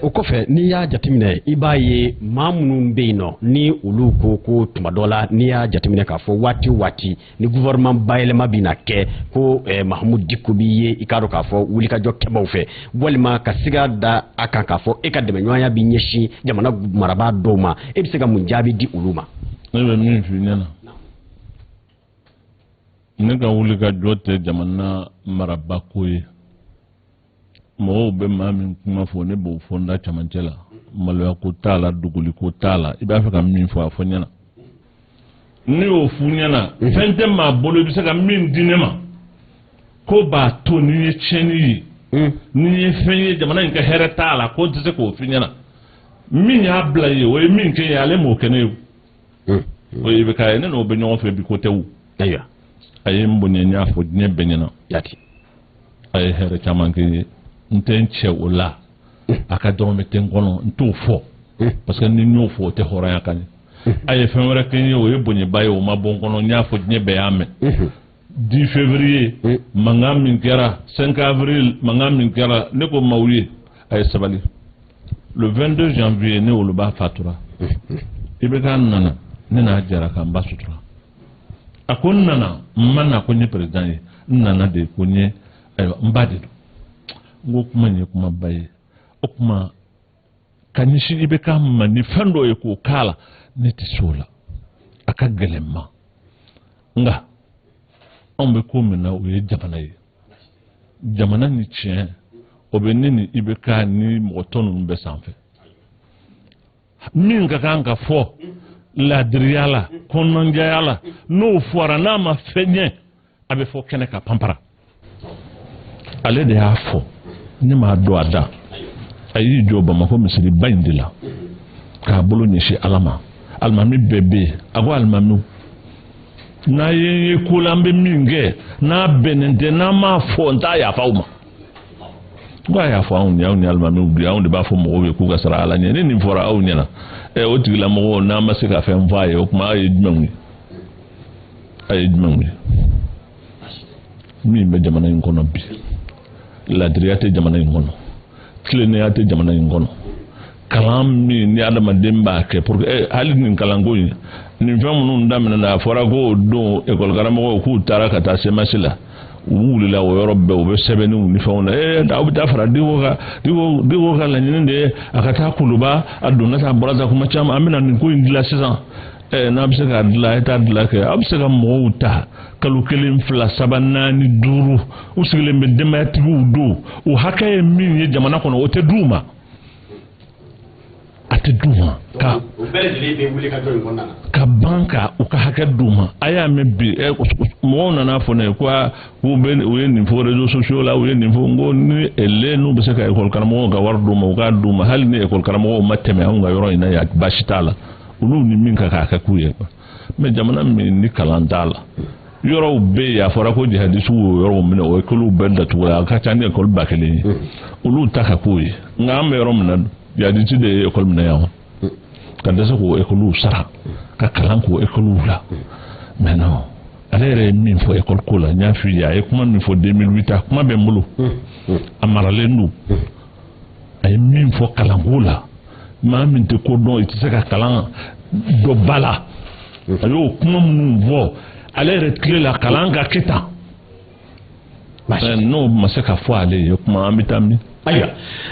o kɔfɛ n'i y'a jateminɛ i b'a ye maa minnu bɛ yen nɔ ni olu ko ko tuma dɔ la n'i y'a jateminɛ k'a fɔ waati o waati ni gouvernement bayɛlɛma bɛ na kɛ ko ɛ Mahamudu Diko b'i ye i k'a dɔn k'a fɔ wulikajɔ kɛbaaw fɛ walima ka siga da a kan k'a fɔ e ka dɛmɛɲɔgɔnya bɛ ɲɛsin jamana marabaa dɔw ma e bɛ se ka mun jaabi di olu ma. ne bɛ min f'i ɲɛna ne ka wulikajɔ tɛ jamana marabako ye. mɔgɔw bɛ maa min kuma fɔ ne b'o fɔ n da camancɛ la maloya ko t'a la dogoli ko t'a la i b'a fɛ ka min fɔ a fɔ ɲɛna ne y'o f'u ɲɛna mhm. fɛn tɛ maa bolo i bɛ se ka min di ne ma k'o b'a to n'i ye tiɲɛni ye mhm. n'i ye fɛn ye jamana in ka hɛrɛ t'a la ko n tɛ se k'o f'i ɲɛna min y'a bila ye o ye min kɛ ye ale m'o kɛ ne ye o ye IBK ye ne n'o bɛ ɲɔgɔn fɛ bi ko tɛ ayiwa a ye n bonya n y'a fɔ diɲɛ bɛɛ ɲɛna jaati a ye hɛrɛ caman kɛ n ye n tɛ n cɛ o la a ka dɔrɔmɛ tɛ n kɔnɔ n t'o fɔ parce que ni n y'o fɔ o tɛ hɔrɔnya kan ye a ye fɛn wɛrɛ kɛ n ye o ye bonyaba ye o ma bɔ n kɔnɔ n y'a fɔ diɲɛ bɛɛ y'a mɛn 10 février Oui. mankan min kɛra 5 avril mankan min kɛra ne ko maaw ye a ye sabali le 22 janvier ne woloba fatura IBK nana ne n'a jɛra ka n ba sutura a ko n nana n ma na ko n ye président ye n nana de ko n ye ayiwa n ba de don n ko kuma in ye kumaba ye o kuma ka ɲɛsin IBK ma ni fɛn dɔ ye k'o k'a la ne tɛ se o la a ka gɛlɛn n ma nka anw bɛ ko min na o ye jamana ye jamana ni tiɲɛ o bɛ ne ni IBK ni mɔgɔ tɔ ninnu bɛɛ sanfɛ min ka kan ka fɔ laadiriya la kɔnɔnajɛya la n'o fɔra n'a ma fɛn ɲɛ a bɛ fɔ kɛnɛ kan panpara ale de y'a fɔ ne m'a don a da a y'i jɔ bamakɔ misiriba in de la k'a bolo ɲɛsin ala ma alimami bɛɛ bɛ yen a ko alimamiw n'a ye n ye ko la n bɛ min kɛ n'a bɛnnen tɛ n'aw m'a fɔ n t'a yafa aw ma ko a yafa anw ye anw ni alimamiw bi anw de b'a fɔ mɔgɔw ye k'u ka siran ala ɲɛ ni nin fɔra aw ɲɛna ɛ o tigilamɔgɔw n'aw ma se ka fɛn fɔ a ye o tuma aw ye jumɛnw ye a ye jumɛnw ye min bɛ jamana in kɔnɔ bi laadiriya tɛ jamana in kɔnɔ tilennenya tɛ jamana in kɔnɔ kalan min ni adamaden b'a kɛ pour que eh, hali nin kalanko in nin fɛn minnu daminɛna a fɔra ko don ekɔlikaramɔgɔw k'u taara ka taa CMAS la u wulila o yɔrɔ bɛɛ u bɛ sɛbɛnniw ni fɛnw na ee eh, aw bɛ taa fara diko kan diko diko ka laɲini de ye a ka taa kuluba a donna tan a bɔra tan kuma caman an bɛna nin ko in dilan sisan ɛɛ n'a bɛ se k'a dilan a ye taa dilan kɛ aw bɛ se ka mɔgɔw ta kalo kelen fila saba naani duuru u sigilen bɛ denbayatigiw don o hakɛ ye min ye jamana kɔnɔ o tɛ d'u ma a tɛ d'u ma ka ka ban ka u ka hakɛ d'u ma a y'a mɛn bi ɛ mɔgɔw nana fɔ ne ye ko u bɛ u ye nin fɔ réseaux sociaux la u ye nin fɔ n ko ni ele n'u bɛ se ka ekɔli karamɔgɔw ka wari d'u ma u k'a d'u ma hali ni ekɔli karamɔgɔw ma tɛmɛ anw ka yɔrɔ in na yan baasi t'a la. olu ni min ka kan k'a kɛ k'u ye mais jamana min ni kalan t'a la yɔrɔw bɛ yen a fɔra ko jihadisiw y'o yɔrɔw minɛ o ekɔliw bɛɛ datugula a ka ca ni ekɔli ba kelen ye olu ta ka k'o ye nka an bɛ yɔrɔ min na jihadisi de ye ekɔli minɛ yan ka dɛsɛ k'o ekɔliw sara ka kalan k'o ekɔliw la mais non ale yɛrɛ ye min fɔ ekɔli ko la n y'a f'i ye a ye kuma min fɔ 2008 a kuma bɛ n bolo a maralen don a ye min fɔ kalanko la maa min tɛ ko dɔn i tɛ se ka kalan dɔ ba la a y'o kuma minnu fɔ ale yɛrɛ tile la kalan ka kɛ tan n'o ma se ka fɔ ale ye kuma an bɛ taa min. ayiwa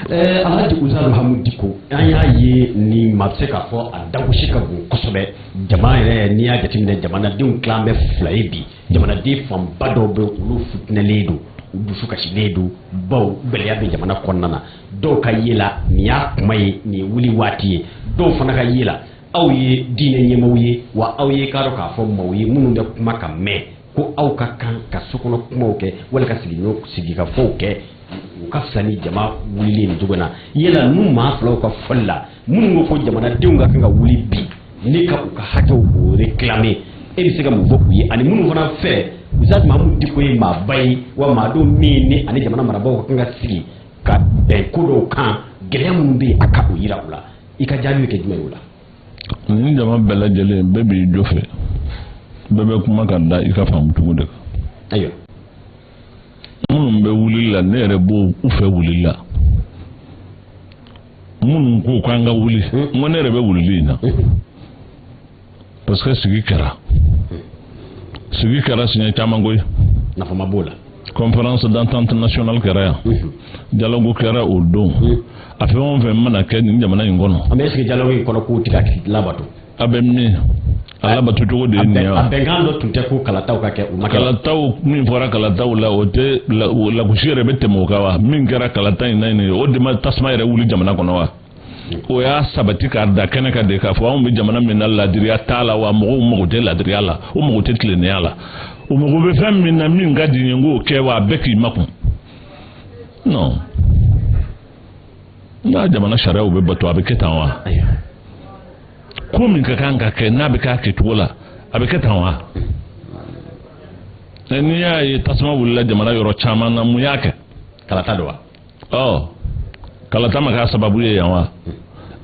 ɛɛ Alaji Usaz Mahamudu Diko an y'a ye nin ma se k'a fɔ a dagosi ka bon kosɛbɛ jama yɛrɛ n'i y'a jateminɛ jamanadenw tilan bɛ fila ye bi. jamanaden fanba dɔw bɛ olu futinɛlen don u dusu kasilen don baw gɛlɛya bɛ jamana kɔnɔna na dɔw ka ye la nin y'a kuma ye nin ye wuli waati ye dɔw fana ka ye la aw ye diinɛ ɲɛmaaw ye wa aw ye k'a dɔn k'a fɔ maaw ye minnu bɛ kuma ka mɛn ko aw ka kan ka sokɔnɔ kumaw kɛ wala ka sigikafɔw kɛ u ka fisa ni jama wulili nin cogo na yala n'u maa filaw ka fɔli la minnu ko ko jamanadenw ka kan ka wuli bi ne ka u ka hakɛw k'o réclamer e bɛ se ka mun fɔ u ye ani minnu fana fɛ Usaz Mahamudu Diko ye maaba ye wa maa don min ni ani jamana marabaaw ka kan ka sigi ka bɛn ko dɔw kan gɛlɛya minnu bɛ yen a ka o yira u la i ka jaabi bɛ kɛ jumɛn ye o la. Nin jama bɛɛ lajɛlen bɛɛ b'i jɔ fɛ bɛɛ bɛ kuma ka da i ka faamu cogo de kan. Ayiwa. minnu bɛ wulili la ne yɛrɛ b'olu fɛ wulili la. minnu ko k'an ka wuli n ko ne yɛrɛ bɛ wulili in na parce que sigi kɛra sigi kɛra siɲɛ caman koyi nafa ma b'o la conférence d'entente nationale kɛra yan dialogue kɛra o don a fɛn o fɛn mana kɛ nin jamana in kɔnɔ an bɛ sigi dialogue in kɔnɔ k'o de bɛ ka labato a bɛ min a labato cogo de ye nin ye wa a bɛnkan dɔ tun tɛ ko kalataw ka kɛ u ma kɛ kalataw min fɔra kalataw la o tɛ lagosi yɛrɛ bɛ tɛmɛ o kan wa min kɛra kalata in na yen o de ma tasuma yɛrɛ wuli jamana kɔnɔ wa o y'a sabati k'a da kɛnɛ kan de k'a fɔ anw bɛ jamana min na laadiriya t'a la wa mɔgɔw mago tɛ laadiriya la o mago tɛ tilennenya la o mago bɛ fɛn min na min ka di n ye n k'o kɛ wa a bɛɛ k'i makun non n'a jamana sariyaw bɛ bato a bɛ kɛ tan wa ko min ka kan ka kɛ n'a bɛ k'a kɛcogo la a bɛ kɛ tan wa n'i y'a ye tasuma wulila jamana yɔrɔ caman na mun y'a kɛ kalata don wa ɔ kalata ma k'a sababu ye yan wa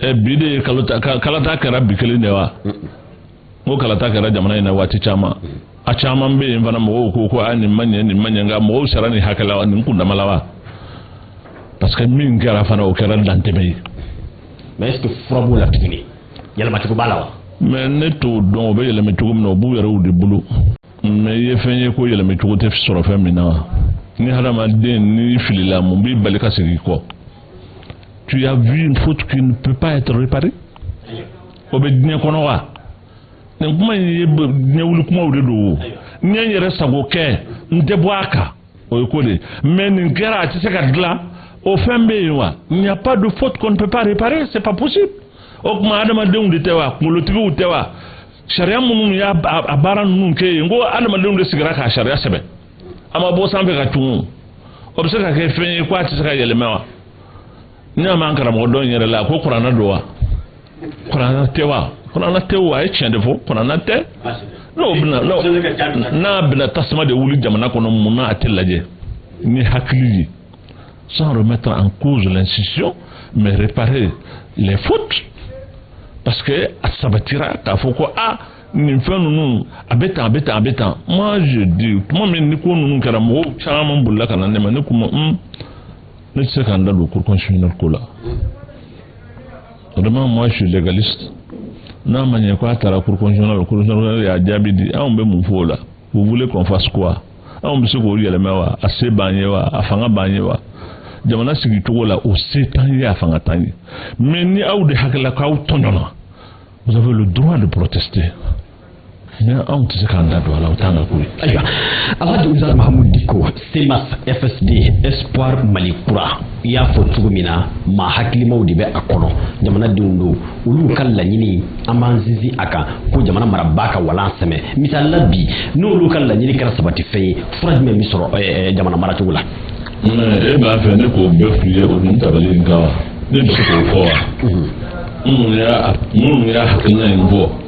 ɛ bi de ye kalata kɛra bi kelen de wa n ko kalata kɛra jamana in na waati caman a caman bɛ yen fana mɔgɔw ko ko a nin ma ɲɛ nin ma ɲɛ nka mɔgɔw sara nin hakɛ la nin kundama la wa parce que min kɛra fana o kɛra dantɛmɛ ye. mais est ce que fura b'o la tuguni yɛlɛmacogo b'a la wa. mais ne t'o dɔn o bɛ yɛlɛmɛ cogo min na o b'u yɛrɛw de bolo mais i ye fɛn ye ko yɛlɛmɛ cogo tɛ sɔrɔ fɛn min na wa ni hadamaden n'i filila mun b'i bali ka segin kɔ tu as vu une faute qui ne peut pas être réparée. o bɛ diɲɛ kɔnɔ wa nin kuma in ye ɲɛwuli kumaw de don o n ye n yɛrɛ sago kɛ n tɛ bɔ a kan o ye ko de ye mais nin kɛra a tɛ se ka dilan o fɛn bɛ yen wa il n'y a pas de faute qu'on ne peut pas réparer c'est pas possible o tuma adamadenw de tɛ wa kunkolotigiw tɛ wa sariya minnu y'a a baara ninnu kɛ yen n ko adamadenw de sigira k'a sariya sɛbɛn a ma bɔ sanfɛ ka cun o bɛ se ka kɛ fɛn ye ko a tɛ se ka yɛlɛma wa n y'a mɛn an karamɔgɔ dɔ in yɛrɛ la a ko kurana don wa kurana tɛ wa kurana tɛ wa a ye tiɲɛ de fɔ kurana tɛ n'o bɛna n'a bɛna tasuma de wuli jamana kɔnɔ mun na a tɛ lajɛ ni hakili ye sans remettre en cause l'institution mais réparer les fautes parce que a sabatira k'a fɔ ko a nin fɛn ninnu a bɛ tan a bɛ tan a bɛ tan moi je dis tuma min ni ko ninnu kɛra mɔgɔw caman bolila ka na ne ma ne k'u ma un ne tɛ se ka n da don cour constitutionnelle ko la vraiment moi je suis légaliste n'a ma ɲɛ ko a taara cour constitutionnelle la cour constitutionnelle y'a jaabi di anw bɛ mun fɔ o la vous voulez qu'on fasse quoi anw bɛ se k'o yɛlɛmɛ wa a se b'an ye wa a fanga b'an ye wa jamana sigi cogo la o se t'an ye a fanga t'an ye mais ni aw de hakili la k'aw tɔɲɔna vous avez le droit de protester anw tɛ se k'an da don a la o t'an ka ko ye ayiwa alhaji ustaz mahamud diko cmas fsd espoir mali kura i y'a fɔ cogo min na maa hakilimaw de bɛ a kɔnɔ jamanadenw don olu ka laɲini an b'an sinsin a kan ko jamana marabaa ka walan sɛmɛ misali la bi n'olu ka laɲini kɛra sabatifɛn ye fura jumɛn bɛ sɔrɔ eh, eh, jamana maracogo la e b'a fɛ ne k'o bɛɛ f'i ye o nin tabali in kan wa ne bɛ se k'o fɔ wa minnu y'a hakilina in bɔ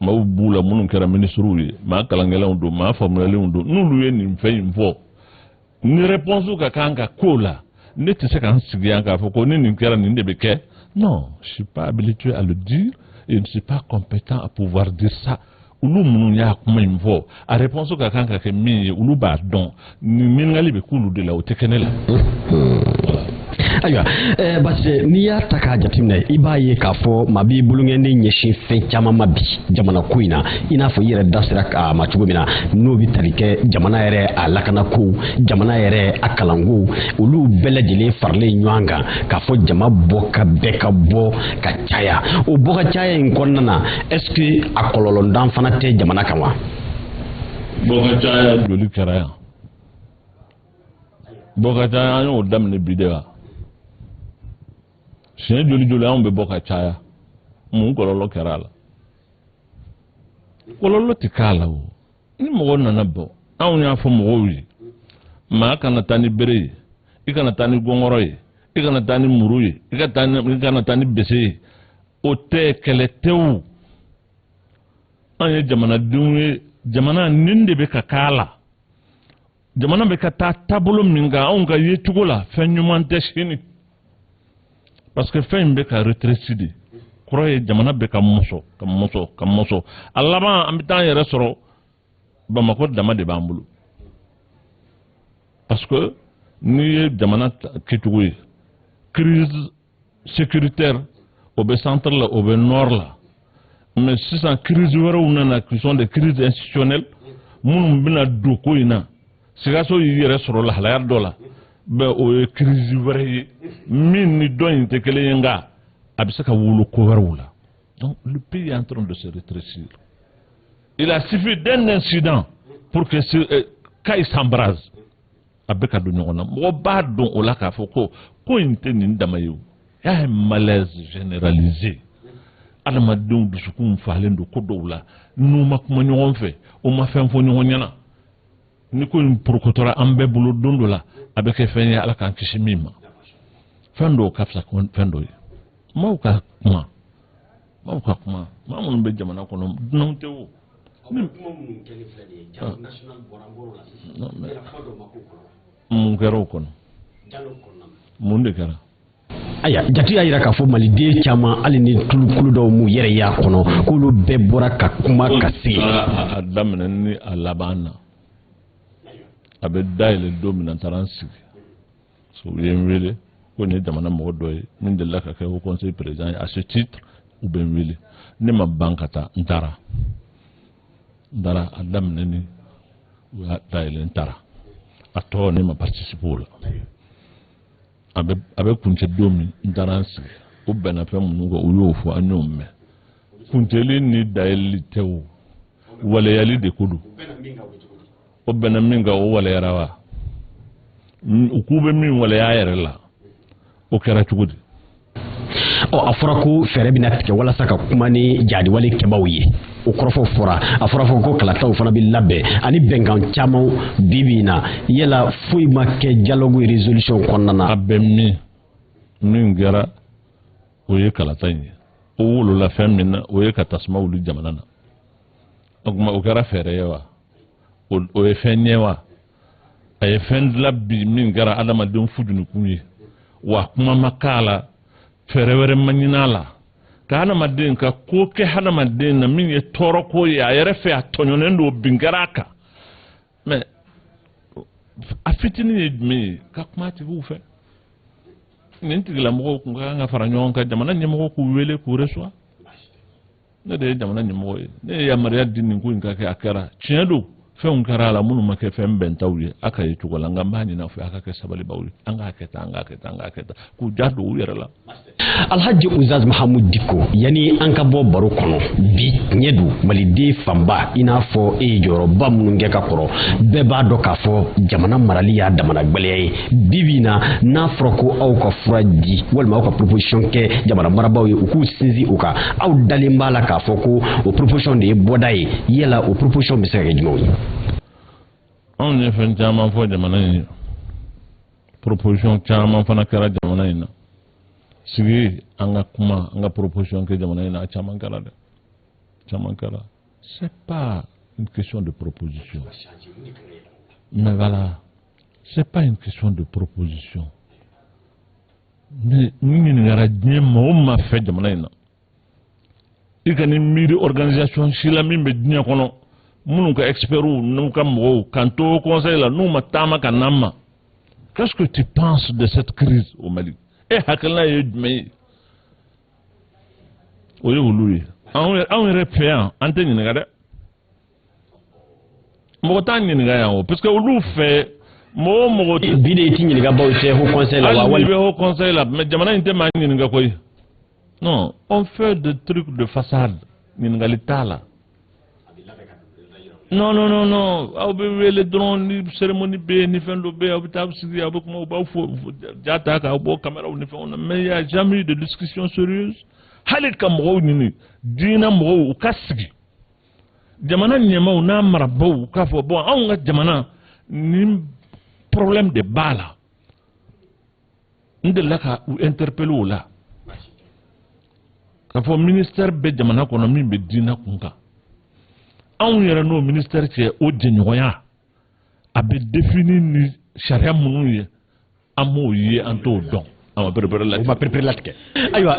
maaw b'u la minnu kɛra minisiriw ye maa kalankɛlaw don maa faamuyalenw don n'olu ye nin fɛn in fɔ ni réponse ka kan ka k'o la ne tɛ se ka n sigi yan k'a fɔ ko ni nin kɛra nin de bɛ kɛ non je suis pas habilité à le dire et je ne suis pas compétent à pouvoir dire ça olu minnu y'a kuma in fɔ a réponse ka kan ka kɛ min ye olu b'a dɔn nin ɲininkali bɛ k'olu de la o tɛ kɛ ne la ayiwa eh, parce que n'i y'a ta k'a jateminɛ i b'a ye k'a fɔ maa b'i bolonkɔni ɲɛsin fɛn caman ma bi jamana ko in na i n'a fɔ i yɛrɛ da sera a ma cogo min na n'o bɛ tali kɛ jamana yɛrɛ a lakanako jamana yɛrɛ a kalanko olu bɛɛ lajɛlen faralen ɲɔgɔn kan k'a fɔ jama bɔ ka bɛɛ ka bɔ ka caya o bɔ ka caya in kɔnɔna na est-ce que a kɔlɔlɔ dɔ fana tɛ jamana kan wa bɔ ka caya joli kɛra yan bɔ ka caya an y'o daminɛ bi de wa siɲɛ joli joli anw bɛ bɔ ka caya mun kɔlɔlɔ kɛra a la kɔlɔlɔ tɛ k'a la o ni mɔgɔ nana bɔ anw y'a fɔ mɔgɔw ye maa kana taa ni bere ye i kana taa ni gɔngɔrɔ ye i kana taa ni muru ye i kana taa ni bese ye o tɛ kɛlɛ tɛ o an ye jamanadenw ye jamana nin de bɛ ka k'a la jamana bɛ ka taa taabolo min kan anw ka yecogo la fɛn ɲuman tɛ sini parce que fɛn in bɛ ka rétrécir de kɔrɔ ye jamana bɛ ka mɔsɔ ka mɔsɔ ka mɔsɔ a laban an bɛ taa an yɛrɛ sɔrɔ bamakɔ dama de b'an bolo parce que n'i ye jamana kɛcogo ye crise sécuritaire o bɛ centre la o bɛ nord la mais sisan crise wɛrɛw nana qui sont des crises institutionnelles minnu bɛna don ko in na sikaso y'i yɛrɛ sɔrɔ lahalaya dɔ la bɛ o ye crise wɛrɛ ye min ni dɔ in tɛ kelen ye nka a bɛ se ka wolo ko wɛrɛw la donc le pays est en train de se rétrécir il a suffi d'un incident pour que euh, Kayes s'embrase a bɛ ka don ɲɔgɔn na mɔgɔ b'a dɔn o la k'a fɔ ko ko in tɛ nin dama ye o y'a ye malaise généralisé adamadenw dusukun falen don ko dɔw la n'u ma kuma ɲɔgɔn fɛ u ma fɛn fɔ ɲɔgɔn ɲɛna ni ko in porokotora an bɛɛ bolo don dɔ la a bɛ kɛ fɛn ye ala k'an kisi min ma fɛn dɔw ka fisa fɛn dɔw ye maaw ka kuma maaw ka kuma maa minnu bɛ jamana kɔnɔ dunanw tɛ o. mun kɛra o kɔnɔ mun de kɛra. aya jate y'a jira k'a fɔ maliden caman hali ni tulukulu dɔw m'u yɛrɛ y'a kɔnɔ k'olu bɛɛ bɔra ka kuma ka se. a daminɛ ni a laban na a bɛ dayɛlɛ don min na n taara n sigi. so u ye n wele ko nin ye jamana mɔgɔ dɔ ye min delila ka kɛ haut conseil président ye à ce titre u bɛ n wele ne ma ban ka taa n taara n taara a daminɛ ni u y'a dayɛlɛ n taara a tɔ ne ma participer o la a bɛ a bɛ kuncɛ don min n taara n sigi u bɛnna fɛn minnu kan u y'o fɔ an y'o mɛn kuncɛli ni dayɛlɛli tɛ o waleyali de ko don u bɛnna min kan o waleyara wa u k'u bɛ min waleya yɛrɛ la o kɛra cogo di ɔ a fɔra ko fɛɛrɛ bɛna tigɛ walasa ka kuma ni jahadi wale kɛbaw ye o kɔrɔfɔ fɔra a fɔra fɔ ko kalataw fana bɛ labɛn ani bɛnkan caman bi bi in na yala foyi ma kɛ dialogue résolution kɔnɔna na a bɛ min min kɛra o ye kalata in ye o wolola fɛn min na o ye ka tasuma wuli jamana na o tuma o kɛra fɛɛrɛ ye wa o ye fɛn ɲɛ wa a ye fɛn dila bi min kɛra adamadenw fujunukun ye wa kuma ma k'a la fɛɛrɛ wɛrɛ ma ɲin'a la ka hadamaden ka ko kɛ hadamaden na min ye tɔɔrɔ ko ye a yɛrɛ fɛ a tɔɲɔnen don bin kɛra a kan mais a fitinin ye jumɛn ye ka kuma tigiw fɛ nin tigilamɔgɔw kun ka kan ka fara ɲɔgɔn kan jamana ɲɛmɔgɔ k'u wele k'u reçoit ne de ye jamana ɲɛmɔgɔ ye ne ye yamaruya di nin ko in ka kɛ a kɛra tiɲɛ don fɛnw kɛra a la minnu ma kɛ fɛn bɛntaw ye a ka yecogo la nka n b'a ɲin'a fɛ a ka kɛ sabalibaw ye an k'a kɛ tan an k'a kɛ tan an k'a kɛ tan k'u ja don u yɛrɛ la alhaji ustaz mahamud diko yanni an ka bɔ baro kɔnɔ bi tiɲɛ don maliden fanba i n'a fɔ e ye jɔyɔrɔba minnu kɛ ka kɔrɔ bɛɛ b'a dɔn k'a fɔ jamana marali y'a damana gwɛlɛya ye bibi in na n'a fɔra ko aw ka fura di walima aw ka proposition kɛ jamana marabaaw ye u k'u sinsin o kan aw dalen b'a la k'a fɔ ko o proposition de ye bɔda ye yala o proposition bɛ se ka kɛ jumɛnw ye anw ye fɛn caman fɔ jamana in ye proposition caman fana kɛra jamana in na sigi an ka kuma an ka proposition kɛ jamana in na a caman kɛra dɛ caman kɛra c'est pas une question de proposition mais voilà C'est pas une question de proposition. Mais n ɲininkara diɲɛ maa o maa fɛ jamana in na i kan'i miiri organisation si la min bɛ diɲɛ kɔnɔ minnu ka expertw n'u ka mɔgɔw k'an to haut conseil la n'u ma taama ka n'an ma qu'est-ce que tu penses de cette crise au Mali e hakilina ye jumɛn ye o ye olu ye anw yɛrɛ fɛ yan an tɛ ɲininka dɛ mɔgɔ t'an ɲininka yan o parce que olu fɛ mɔgɔ o mɔgɔ tɛ. bi de u t'i ɲininka bawo i tɛ haut conseil la wa hali. hali n'i bɛ haut conseil la mais jamana in tɛ maa ɲininka koyi non on fait des trucs de façade ɲininkali t'a la. non non non non aw bɛ wele dɔrɔn ni cérémonie bɛ yen ni fɛn dɔ bɛ yen aw bɛ taa sigi aw bɛ kuma u b'aw fo ja ta k'aw bɔ kameraw ni fɛnw na mais il y a jamais eu de discussion sérieuse hali ka mɔgɔw ɲini diinɛ mɔgɔw u ka sigi. jamana ɲɛmaw n'a marabaw k'a fɔ bon anw ka jamana nin problème de b'a la n delila ka u interpelle o la k'a fɔ ministère bɛ jamana kɔnɔ min bɛ diinɛ kun kan anw yɛrɛ n'o ministère cɛ o jɛɲɔgɔnya a bɛ défini ni sariya minnu ye an m'o ye an t'o dɔn an ma perepere latigɛ u ma perepere latigɛ ayiwa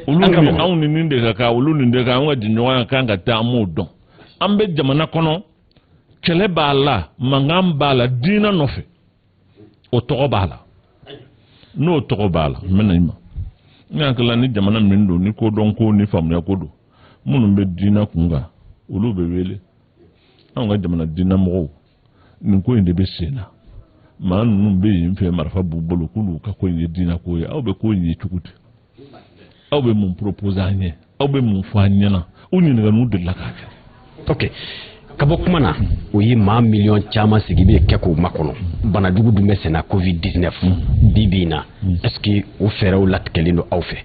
olu ni anw ni nin de ka kan olu nin de ka an ka jɛɲɔgɔnya kan ka taa an m'o dɔn an bɛ jamana kɔnɔ kɛlɛ b'a la mankan b'a la diinɛ nɔfɛ o tɔgɔ b'a la n'o tɔgɔ b'a la n bɛna i ma n hakili la ni jamana min don ni kodɔn ko ni faamuya ko don minnu bɛ diinɛ kun kan olu bɛ wele anw ka jamana diinɛ mɔgɔw nin ko in de bɛ sen na maa ninnu bɛ yen fɛ marifa b'u bolo k'olu ka ko in ye diinɛ ko ye aw bɛ ko in ye cogo di aw bɛ mun proposer an ye aw bɛ mun fɔ an ɲɛ na u ɲininkaliw delila k'a kɛ ok ka bɔ kuma na o ye maa miliyɔn caman sigi bɛ kɛ k'o makɔnɔ banajugu dun bɛ sen na covid 19 bi bi in na est ce que o fɛɛrɛw latigɛlen don aw fɛ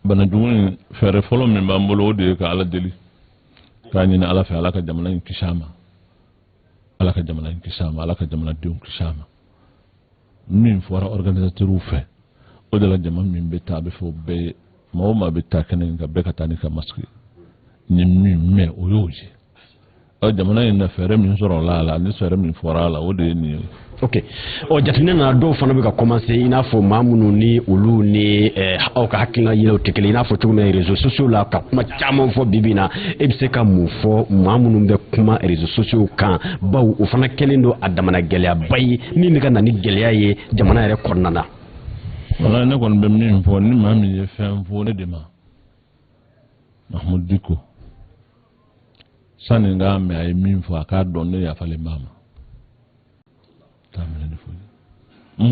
banajugu in fɛɛrɛ fɔlɔ min b'an bolo o de ye ka ala deli k'a ɲini ala fɛ ala ka jamana in kisi a ma ala ka jamana in kisi a ma ala ka jamanadenw kisi a ma min fɔra organisatɛriw fɛ o de la jama min bɛ taa a bɛ fɔ bɛɛ ye maa o maa bɛ taa kɛnɛ in kan bɛɛ ka taa n'i ka masque n ye min mɛn o y'o ye ɔ jamana in na fɛɛrɛ min sɔrɔla a la ni fɛɛrɛ min fɔra a la o de ye nin ye. ok ɔ jateminɛ na dɔw fana bɛ ka kɔmanse i n'a fɔ maa minnu ni olu ni eh, aw ka hakilina yɛlɛw tɛ kelen i n'a fɔ cogo min na rezo sosiyo la ka kuma caman fɔ bi bi na e bɛ se ka mun fɔ maa minnu bɛ kuma rezo sosiyo kan bawo o fana kɛlen don a damana gɛlɛyaba ye min bɛ ka na ni gɛlɛya ye jamana yɛrɛ kɔnɔna na. wala ne kɔni bɛ min fɔ ni maa min ye fɛn fɔ ne de ma mahamudu diko. sani n k'a mɛn a ye min fɔ a k'a dɔn ne yafalen b'a ma t'a minɛ ne foyi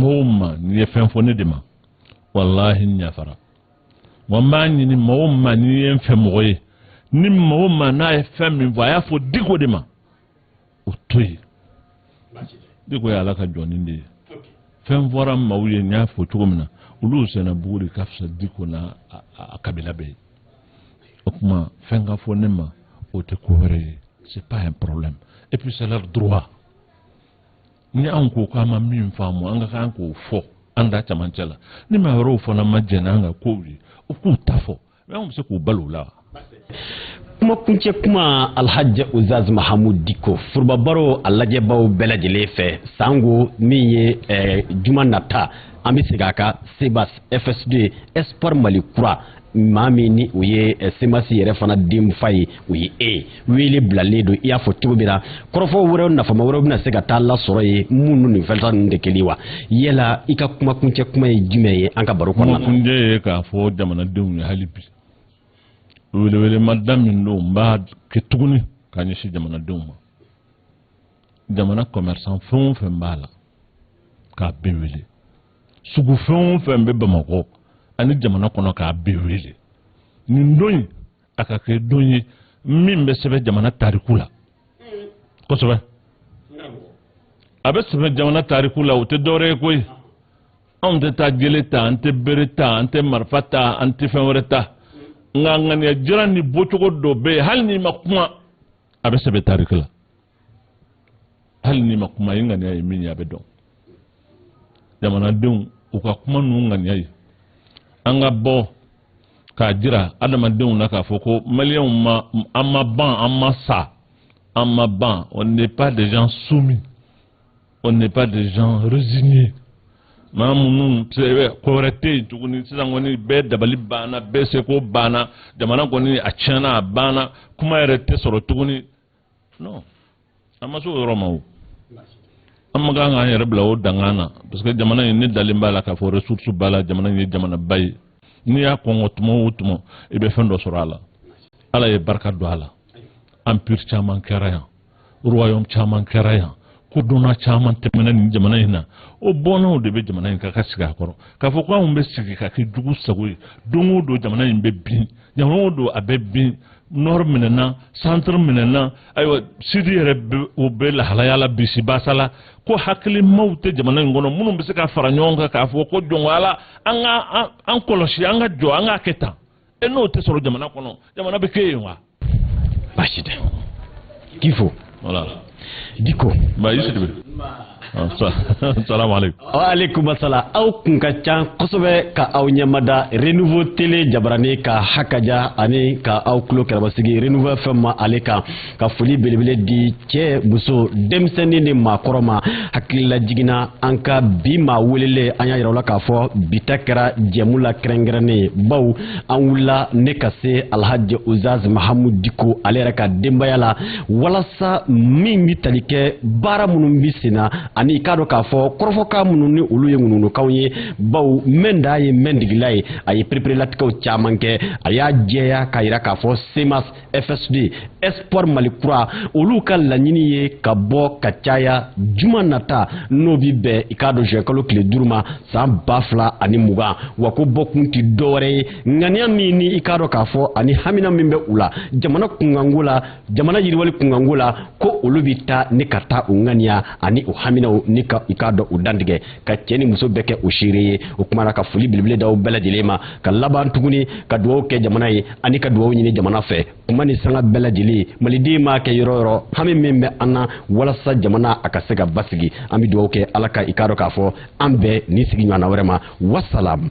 maa o maa n'i ye fɛn fɔ ne de ma walahi n yafara wa n b'a ɲini maa o maa n'i ye n fɛ mɔgɔ ye ni maa o maa n'a ye fɛn min fɔ a y'a fɔ diko de ma o to yen diko ye ala ka jɔnnin de ye fɛn fɔra maaw ye n y'a fɔ cogo min na olu sen na buguri ka fisa diko n'a kabila bɛɛ ye o tuma fɛn ka fɔ ne ma o tɛ ko bɛrɛ ye c'est pas un problème et puis c'est leur droit ni anw ko k'an ma min faamu an ka kan k'o fɔ an da cɛmancɛ la ni maa wɛrɛw fana ma jɛn n'an ka kow ye u k'u ta fɔ Anw bɛ se k'u bali o la kuma kuncɛ kuma alhaji uzaz mahamu diko forobabaro a lajɛbaw bɛɛ lajɛlen fɛ sango min ye eh, juma nata an bɛ segin a kan semasi fsd espoir mali kura maa min ni o ye eh, semasi yɛrɛ fana denfa ye o ye e ye wele bilalen don i y'a fɔ cogo min na kɔrɔfɔ wɛrɛw nafama wɛrɛw bɛna se ka taa lasɔrɔ yen minnu ni nin fɛnta ninnu tɛ kelen wa yala i ka kumakuncɛ kuma ye jumɛn ye an ka baro kɔnɔna na kumakuncɛ ye k'a fɔ jamanadenw ye hali bi welewelemada min don n b'a kɛ tuguni ka ɲɛsin jamanadenw ma jamana commerçant fɛn o fɛn b'a la k'a bɛɛ wele sugu fɛn o fɛn bɛ bamakɔ ani jamana kɔnɔ k'a bɛɛ wele nin don in a ka kɛ don ye min bɛ sɛbɛn jamana tariku la kosɛbɛ a bɛ sɛbɛn jamana tariku la o tɛ dɔwɛrɛ ye koyi anw tɛ taa jele ta an tɛ bere ta an tɛ marifa ta an tɛ fɛn wɛrɛ ta nka ŋaniya jira ni bɔcogo dɔ bɛ yen hali n'i ma kuma a bɛ sɛbɛn tariku la hali n'i ma kuma i ŋaniya ye min ye a bɛ dɔn jamanadenw u ka kuma ninnu ŋaniya ye an ka bɔ k'a jira adamadenw na k'a fɔ ko maliyɛnw ma an ma ban an ma sa an ma ban on n'est pas des gens soumis on n'est pas des gens résignés maa minnu ko wɛrɛ tɛ yen tuguni sisan kɔni bɛɛ dabali banna bɛɛ seko banna jamana kɔni a tiɲɛna a banna kuma yɛrɛ tɛ sɔrɔ tuguni non an ma se o yɔrɔ ma o an ma kan k'an yɛrɛ bila o dankan na parce que jamana in ne dalen b'a la k'a fɔ ressource b'a la jamana in ye jamanaba ye n'i y'a kɔnkɔn tuma o tuma i bɛ fɛn dɔ sɔrɔ a la ala ye barika don a la empire caman kɛra yan royaume caman kɛra yan kodɔnna caman tɛmɛna nin jamana in na o bɔnnaw de bɛ jamana in kan ka sigi a kɔrɔ k'a fɔ ko anw bɛ sigi ka kɛ jugu sago ye don o don jamana in bɛ bin jamana o don a bɛ bin nord minɛna centre minɛna ayiwa sud yɛrɛ o bɛ lahalaya la bisibasa la ko hakilimaw tɛ jamana in kɔnɔ minnu bɛ se ka fara ɲɔgɔn kan k'a fɔ ko jɔn ko ala an ka an kɔlɔsi an ka jɔ an k'a kɛ tan e n'o tɛ sɔrɔ jamana kɔnɔ jamana bɛ kɛ yen wa baasi tɛ k'i fo voilà diko ba yusuf salam aleykum waaleykum asalam aw kun ka ca kosɛbɛ ka aw ɲɛmada renouveau télé jabarani ka hakaja ani ka aw tulo kɛrɛ basigi renouveau fm ale kan ka foli belebele di cɛ muso denmisɛnnin ni maakɔrɔ ma hakililajigin na an ka bi maa welelen an y'a yira aw la k'a fɔ bi ta kɛra jɛmu lakɛrɛnkɛrɛnnen ye baw an wulila ne ka se alhaji ustaz mahamud diko ale yɛrɛ ka denbaya la walasa min bɛ tali kɛ baara minnu bɛ sen na ani i k'a dɔn k'a fɔ kɔrɔfɔkan minnu ni olu ye ŋunuŋunukanw ye baw mɛnda ye mɛndigila ye a ye pereperelatigɛw caman kɛ a y'a jɛya k'a jira k'a fɔ cmas fsd espoir mali kura olu ka laɲini ye ka bɔ ka caya juma nata n'o bi bɛn i k'a dɔn zuwɛnkalo tile duuru ma san ba fila ani mugan wa ko bɔkun tɛ dɔwɛrɛ ye ŋaniya min ni i k'a dɔn k'a fɔ ani hamina min bɛ u la jamana kunkanko la jamana yiriwali kunkanko la ko olu bi taa ni ka taa u ŋaniya ani u haminaw ni ka i k'a dɔn u dantigɛ ka cɛ ni muso bɛɛ kɛ o seere ye o kuma na ka foli belebele da aw bɛɛ lajɛlen ma ka laban tuguni ka dugawu kɛ jamana ye ani ka dugawu ɲini jamana fɛ kuma ni sanga bɛɛ lajɛlen maliden maa kɛ yɔrɔ yɔrɔ hami min bɛ an na walasa jamana a ka se ka basigi an bɛ dugawu kɛ ala ka i k'a dɔn k'a fɔ an bɛn nin sigi ɲɔgɔnna wɛrɛ ma wasalam